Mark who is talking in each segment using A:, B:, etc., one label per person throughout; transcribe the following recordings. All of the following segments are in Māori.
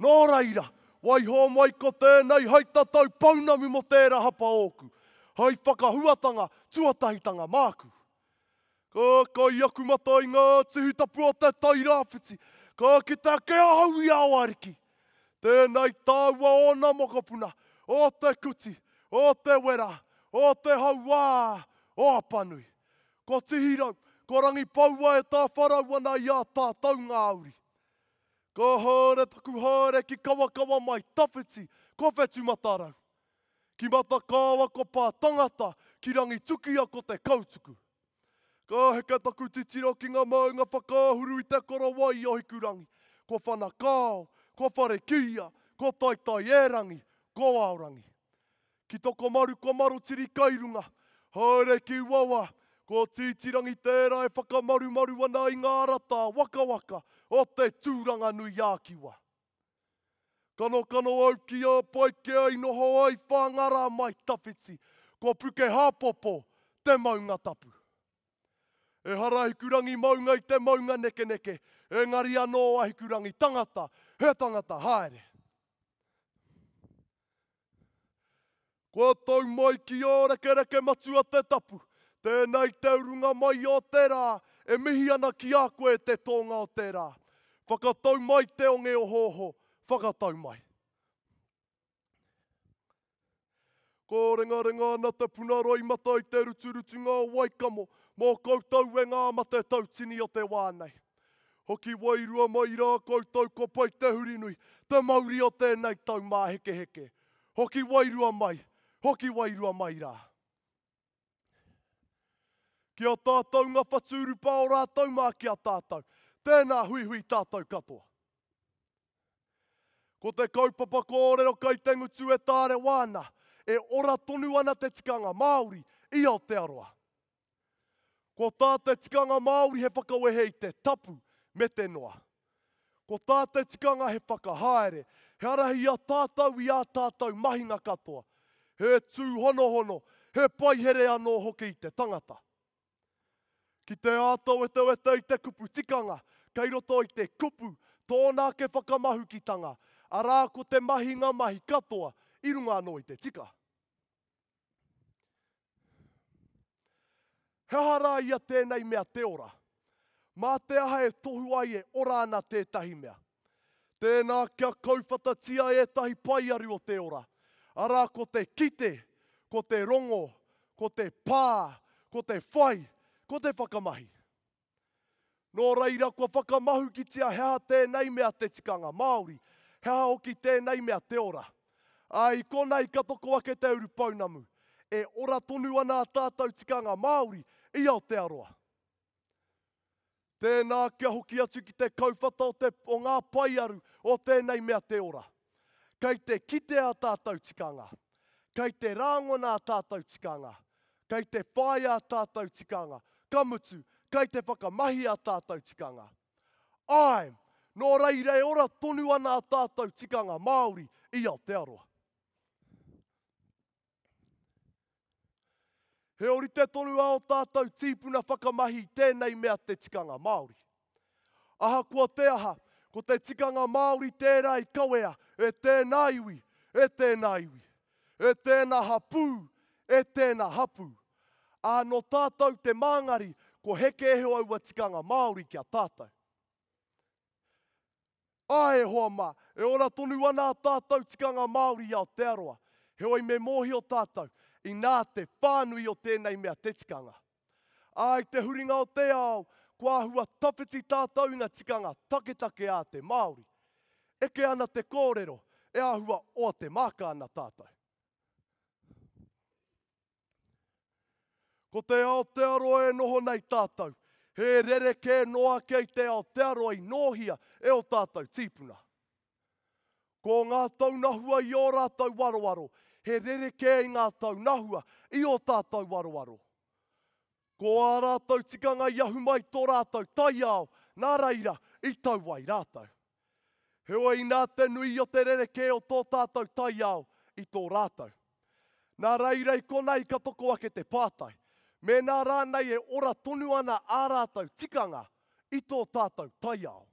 A: Nō reira, waiho mai ko tēnei hei tatau pounamu mō tērā hapa ōku, hei whakahuatanga tuatahitanga māku. Ka kai aku mata i ngā tihi tapu o te tai rāwhiti, ka kite ake ahau i a Oariki. Tēnei tāua ōna mokopuna, o Te Kuti, o Te Wera, o Te Hauā, o Apanui. Ko Tihirau, ko Rangipaua e tāwharau ana i a tātau ngā uri. Ka haere taku haere ki Kawakawa mai tawhiti ko Whetumatarau. Ki Matakāoa ko Pā Tangata, ki Rangitukia ko Te Kautuku. Ka heke taku titiro ki ngā maunga whakaahuru i Te Korowai i Ohikurangi, ko Whanakao, ko Wharekīia, ko Taitaierangi, ko Aorangi. Ki Tokomaru ko Marotiri kai runga, haere ki Wawa, ko Tītīrangi tērā e whakamarumaru ana i ngā rata wakawaka o te Tūranganui-ā-Kiwa. Kanokano au ki a Paikea i noho ai Whāngārā mai tawhiti, ko Pukehāpopo te maunga tapu. Ehara Ahikurangi maunga i te maunga nekeneke, engari anō Ahikurangi tangata, he tangata haere. Kua tau mai ki Ōrekereke Matua te tapu. Tēnā i te urunga mai o te rā, e mihi ana ki a koe e te tōnga o te rā. Whakatau mai te onge ohooho, whakatau mai. Kōrengarenga ana te puna roimata i te ruturutunga o Waikamo mō koutou e ngā mate tautini o te wā nei. Hoki wairua mai i rā koutou ko pai te Hurinui, te mauri o tēnei tau mā hekeheke. Hoki wairua mai, hoki wairua mai rā. Ki a tātou nga whatu urupā o rātou mā ki a tātou. Tēnā huihui tātou katoa. Ko te kaupapa kōrero kai te ngutu e tārewa ana, e ora tonu ana te tikanga Māori i Aotearoa. Ko tā te tikanga Māori he whakawehe i te tapu me te noa. Ko tā te tikanga he whakahaere, he arahi i a tātou i ā tātou mahinga katoa, he tūhonohono, he paihere anō hoki i te tangata. Ki te āta wetewete i te kupu tikanga, kei roto i te kupu tōna ake whakamahukitanga, arā ko te mahinga mahi katoa i runga anō i te tika. He aha rā ia tēnei mea te ora? Mā te aha e tohu ai e ora ana tētahi mea? Tēnā kia kauwhatatia ētahi paearu o te ora, arā ko te kite, ko te rongo, ko te pā, ko te whai, ko te whakamahi. Nō reira, kua whakamahukitia he aha tēnei mea te tikanga Māori, he aha hoki tēnei mea te ora. Ā, i konei ka toko ake te urupounamu, e ora tonu ana ā tātou tikanga Māori i Aotearoa. Tēnā kia hoki atu ki te kauwhata o, te, o ngā paearu o tēnei mea te ora. Kei te kite ā tātou tikanga, kei te rāngona ā tātou tikanga, kei te whāia ā tātou tikanga, ka mutu, kei te whakamahi ā tātou tikanga. Āe, nō reira e ora tonu ana ā tātou tikanga Māori i Aotearoa. He orite tonu a o tātou tīpuna whakamahi tēnei mea te tikanga Māori. Ahakoa te aha, ko te tikanga Māori tērā i kawea e tēnā iwi, e tēnā iwi, e tēnā hapū, e tēnā hapū. Ā, nō tātou te māngari ko heke eho aua tikanga Māori ki a tātou. Āe e hoa mā, e ora tonu ana ā tātou tikanga Māori i Aotearoa, heoi me mōhio tātou, inā te whānui o tēnei mea te tikanga. Ā, i te huringa o te ao, kua āhua tawhiti tātou i ngā tikanga taketake ā te Māori. Eke ana te kōrero, e āhua oa te māka ana tātou. Ko te Aotearoa e noho nei tātou, he rerekē noa kei te Aotearoa i nōhia e o tātou tīpuna. Ko ngā taunahua i ō rātou waroaro, he rerekē i ngā taunahua i o tātou waroaro. Ko ā rātou tikanga i ahu mai tō rātou taiao, nā reira, i tau ai rātou. Heoi inā te nui o te rerekē o tō tātou taiao i tō rātou. Nā reira i konā i ka toko ake te pātai, mēnā rānei e ora tonu ana ā rātou tikanga i tō tātou taiao.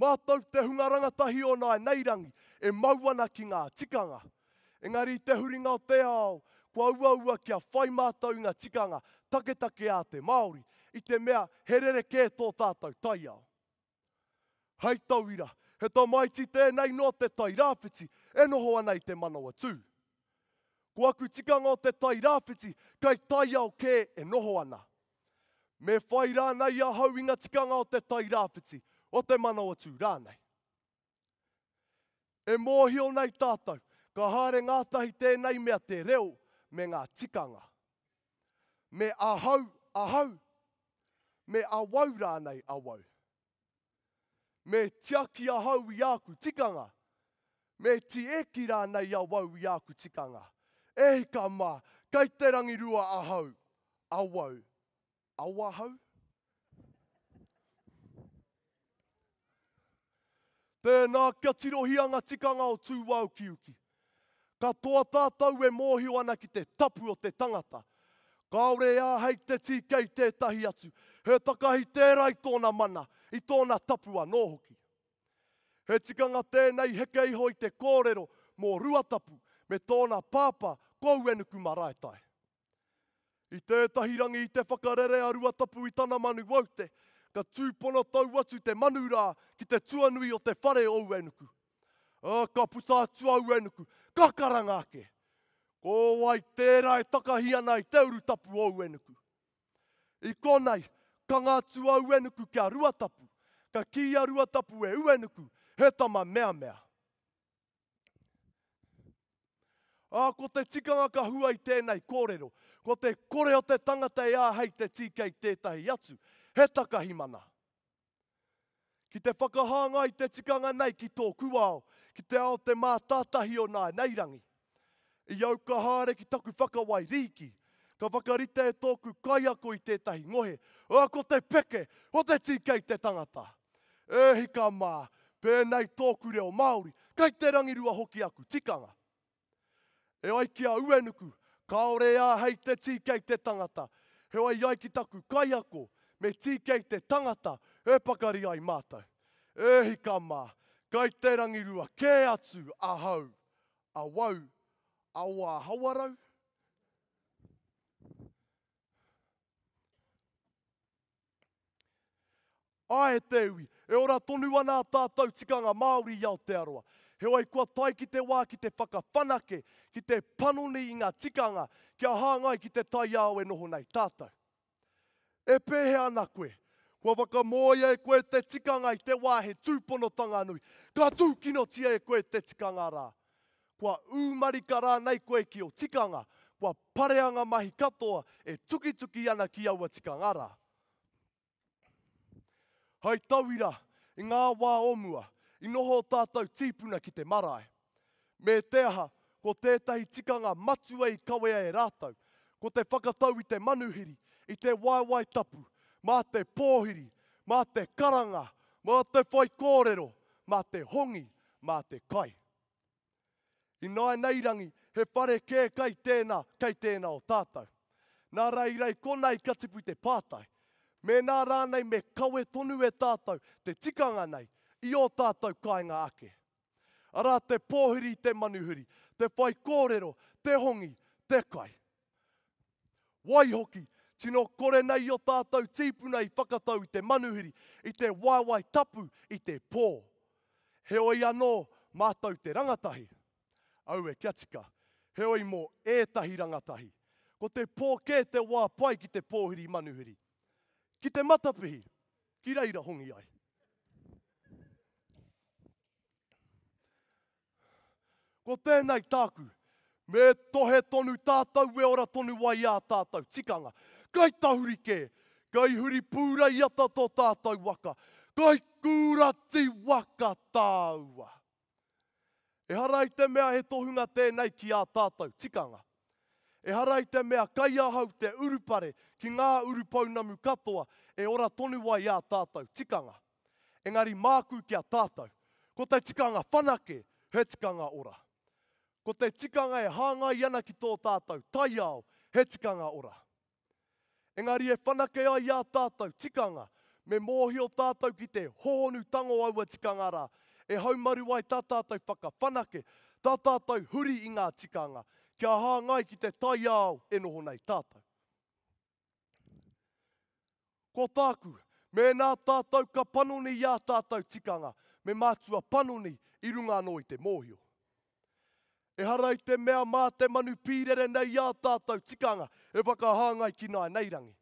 A: Mātou te hunga rangatahi o nāi nei rangi e mau ana ki ngā tikanga. Engari i te huringa o te ao, kua uaua kia whai mātou i ngā tikanga taketake a te Māori, i te mea he rerekē tō tātou taiao. Hei tauira, he tamaiti tēnei nō te Tai Rāwhiti e noho ana i te Manawatū. Ko aku tikanga o te Tai Rāwhiti, kei taiao kē e noho ana. Me whai rānei ahau i nga tikanga o te Tairāwhiti, o te Manawatū rānei. E mōhio nei tātou, ka haere ngātahi tēnei mea te reo me ngā tikanga. Me ahau, ahau, me awau rānei, awau. Me tiaki ahau i āku tikanga, me tieki rānei awau i āku tikanga. E hika mā, kei te rangirua ahau, awau, awahau? Tēnā kia tirohia ngā tikanga o tū wāukiuki. Katoa tātou e mōhio ana ki te tapu o te tangata. Kāore e āhei te tīke i tētahi atu, he takahi tērā i tōna mana, i tōna tapu anō hoki. He tikanga tēnei heke iho i te kōrero mō Ruatapu me tōna pāpā Kouenuku Maraetae. I tētahi rangi i te whakarere a Ruatapu i tana manu waute, ka tūpono tau atu te manu rā ki te tuanui o te whare o Uenuku. Ā, ka puta atu a Uenuku, ka karanga ake, Ko wai tērā e takahi ana i te urutapu o Uenuku? I konei, kanga atu a Uenuku ki a Ruatapu, ka kī a Ruatapu e Uenuku, He tama meamea. Ā, ko te tikanga ka hua i tēnei kōrero, ko te kore o te tangata e āhei te tīkei tētahi atu, he takahi mana. Ki te whakahāngai i te tikanga nei ki tōku ao, ki te ao te mātātahi o nānei rangi. I au ka haere ki taku whakawai rīki, ka whakarite e tōku kaiako i tētahi ngohe, ā, ko te peke o te tīkei te tangata. E hika mā, pēnei tōku reo Māori, kei te rangirua hoki aku tikanga. E ai ki a Uenuku, kāore e āhei te tīkei te tangata, heoi i ai ki taku kaiako, me tīkei te tangata e pakari ai mātou. E hika mā, kei te rangirua kē atu ahau, awau, awa hawarau? Ae te iwi, e ora tonu ana a tātou tikanga Māori i Aotearoa. Heoi kua tae ki te wā ki te whakawhanake, ki te panoni i ngā tikanga kia hāngai ki te taiao e noho nei tātou. E pēhea ana koe? Kua whakamōia e koe te tikanga i te wā he tūponotanga nui, ka tūkinotia e koe te tikanga rā. Kua ū marika rānei koe ki ō tikanga, kua parea ngā mahi katoa e tukituki ana ki aua tikanga rā. Hei tauira, i ngā wā o mua, i noho ō tātou tīpuna ki te marae. Me te aha, ko tētahi tikanga matua i kawea e rātou, ko te whakatau i te manuhiri, i te waewae tapu, mā te pōhiri, mā te karanga, mā te whaikōrero, mā te hongi, mā te kai. Ināinairangi, he whare kē kai tēnā, kai tēnā o tātou. Nā Raeirae konā i ka tipu te pātai, mēnā rānei me kawe tonu e tātou te tikanga nei i ō tātou kāinga ake. Arā te pōhiri i te manuhiri, te whaikōrero, te hongi, te kai. Waihoki, tino kore nei i o tātou tīpuna i whakatau i te manuhiri, i te waewae tapu, i te pō. Heoi anō, mātou te rangatahi. Aue kia tika. Heoi mō ētahi rangatahi, ko te pō kē te wā pai ki te pōhiri manuhiri. Ki te matapihi, ki reira hongi ai. Ko tēnei tāku, me tohe tonu tātou we ora tonu wai ā tātou tikanga. Kai tahuri kē, kai huri pūreiata tō tātou waka, kai kūrati waka tāua. Ehara i te mea he tohunga tēnei ki ā tātou tikanga. Ehara i te mea kai ahau te urupare ki ngā urupounamu katoa e ora tonu wai ā tātou tikanga. Engari māku ki a tātou, ko te tikanga whanake he tikanga ora. Ko te tikanga e hāngai ana ki tō tātou taiao he tikanga ora. Engari e whanake ai ā tātou tikanga, me mōhio tātou ki te hohonu tango aua tikanga rā, e haumaru ai tā tātou whakawhanake, tā tātou huri i ngā tikanga, kia hāngai ki te taiao e noho nei tātou. Ko tāku, mēnā tātou ka panoni i ā tātou tikanga, me mātua panoni i runga anō i te mōhio. Ehara i te mea mā te manu pīrere nei i ā tātou tikanga e whakahāngai ki nāinei rangi.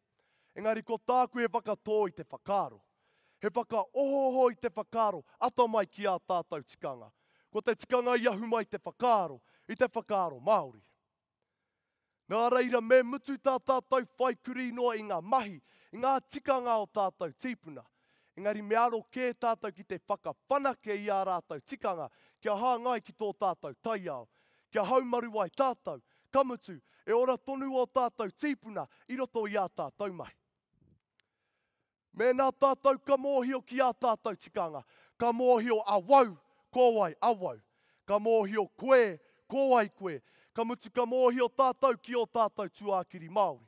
A: Engari ko tāku he whakatō i te whakaaro, he whakaohooho i te whakaaro atamai ki ā tātou tikanga, ko te tikanga i ahu mai te whakaaro, i te whakaaro Māori. Nā reira, me mutu tā tātou whai kurī noa i ngā mahi, i ngā tikanga o tātou tīpuna. Engari me aro kē tātou ki te whakawhanake i ā rātou tikanga kia hāngai ki tō tātou taiao. Kia haumaru ai tātou, ka mutu, e ora tonu ō tātou tīpuna i roto i ā tātou mahi. Mēnā tātou ka mōhio ki ā tātou tikanga, ka mōhio awau ko wai awau, ka mōhio koe ko wai koe, ka mutu ka mōhio tātou ki ō tātou tuākiri Māori.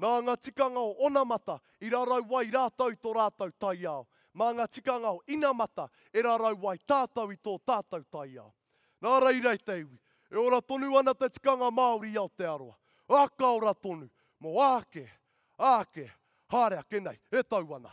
A: Nā ngā tikanga o onamata i rarau ai rātou i tō rātou taiao, mā ngā tikanga o inamata e rarau ai tātou i tō tātou taiao. Nā reira e te iwi, e ora tonu ana te tikanga Māori i Aotearoa, ā, ka ora tonu, mō āke, A ake, haere ake nei, e tau ana.